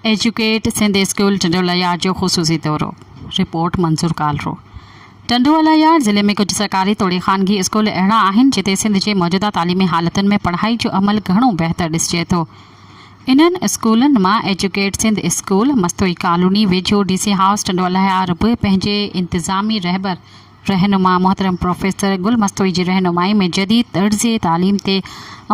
Educate Sindh school Tando Allahyar جو خصوصي دورو، رپورٽ منظور ڪالرو، ٽنڊوالهيار ضلعي ۾ ڪجهه سرڪاري توڙي خانگي اسڪول اهڙا آهن جتي سنڌ جي موجوده تعليمي حالتن ۾ پڙهائي جو عمل گهڻو بهتر ڏسجي ٿو انهن اسڪولن مان educate Sindh school Mastoi colony ويجهو ڊي سي هائوس ٽنڊوالهيار به پنهنجي انتظامي رهبر رهنما محترم پروفيسر گل مستوئي جي رهنمائي ۾ جديد طرز تعليم تي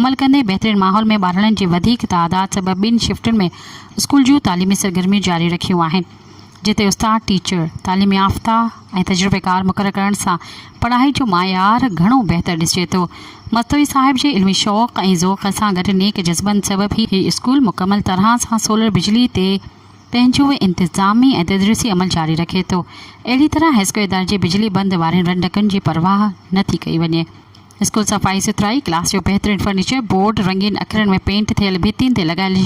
عمل ڪندي بهترين ماحول ۾ ٻارڙن جي وڌيڪ تعداد سبب ٻن شفٽن ۾ اسڪول جون تعليمي سرگرميون جاري رکيون آهن جتي استاد ٽيچر تعليم يافته ۽ تجربيڪار مقرر ڪرڻ سان پڙهائي جو معيار گهڻو بهتر ڏسجي ٿو مستوئي صاحب جي علمي شوق ۽ ذوق سان گڏ نيڪ جذبن سبب هي اسڪول مڪمل طرح سان سولر بجلي تي پنهنجو انتظامي ۽ تدريسي عمل جاري رکي ٿو. اهڙي طرح هائيسڪول اداري جي بجلي بند وارين رنڊڪن جي پرواهه نه ٿي ڪئي وڃي. اسڪول صفائي سٿرائي، ڪلاس جو بهترين فرنيچر، بورڊ، رنگين اکرن ۾ پينٽ ٿيل ڀتين تي لڳايل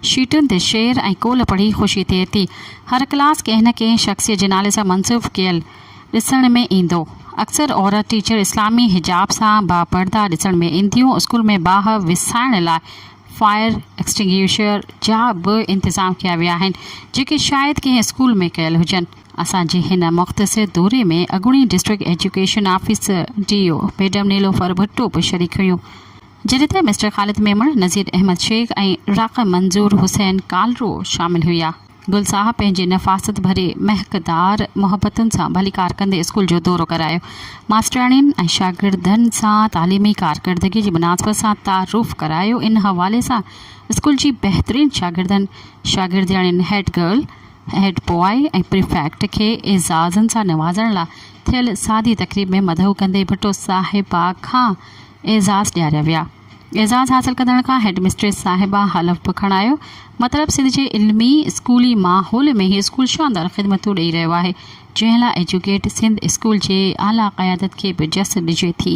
شيٽن تي شعر ۽ قول پڙهي خوشي ٿئي ٿي. هر ڪلاس ڪنهن نه ڪنهن شخصيت جي نالي سان منسوب ڪيل ڏسڻ ۾ ايندو. اڪثر عورت ٽيچر اسلامي حجاب سان باپرده ڏسڻ ۾ اينديون. اسڪول ۾ باهه وسائڻ لاء فائر ايڪسٽنگيوشر جا به انتظام ڪيا ويا آهن، جيڪي شايد ڪنهن اسڪول ۾ ڪيل هجن. اسان جي هن مختصر دوري ۾ اڳوڻي district education officer, D O, madam Nilofar Bhutto به شريڪ هيون، جڏهن ته مسٽر خالد ميمڻ، نذير احمد شيخ ۽ راقم منظور حسين ڪالرو شامل هيا. گل صاحب پنهنجي نفاست ڀري مهڪ دار محبتن سان ڀليڪار ڪندي اسڪول جو دورو ڪرايو. ماسترياڻين ۽ شاگردن سان تعليمي ڪارڪردگي جي مناسبت سان تعارف ڪرايو ان حوالي سان اسڪول جي بهترين شاگردن، شاگردياڻين، head girl, head boy ۽ prefect کي اعزازن سان نوازڻ لا ٿيل سادي تقريب ۾ مدعو ڪندي ڀٽو صاحبه کان اعزاز ڏياريا ويا. اعزاز حاصل ڪندڙن کان هيڊ مسٽريس صاحبه حلف به کڻايو. مطلب سنڌ جي علمي اسڪولي ماحول ۾ هي اسڪول شاندار خدمتون ڏئي رهيو آهي، جنهن لاء ايجوڪيٽ سنڌ اسڪول جي اعليٰ قيادت کي به جس ڏجي ٿي.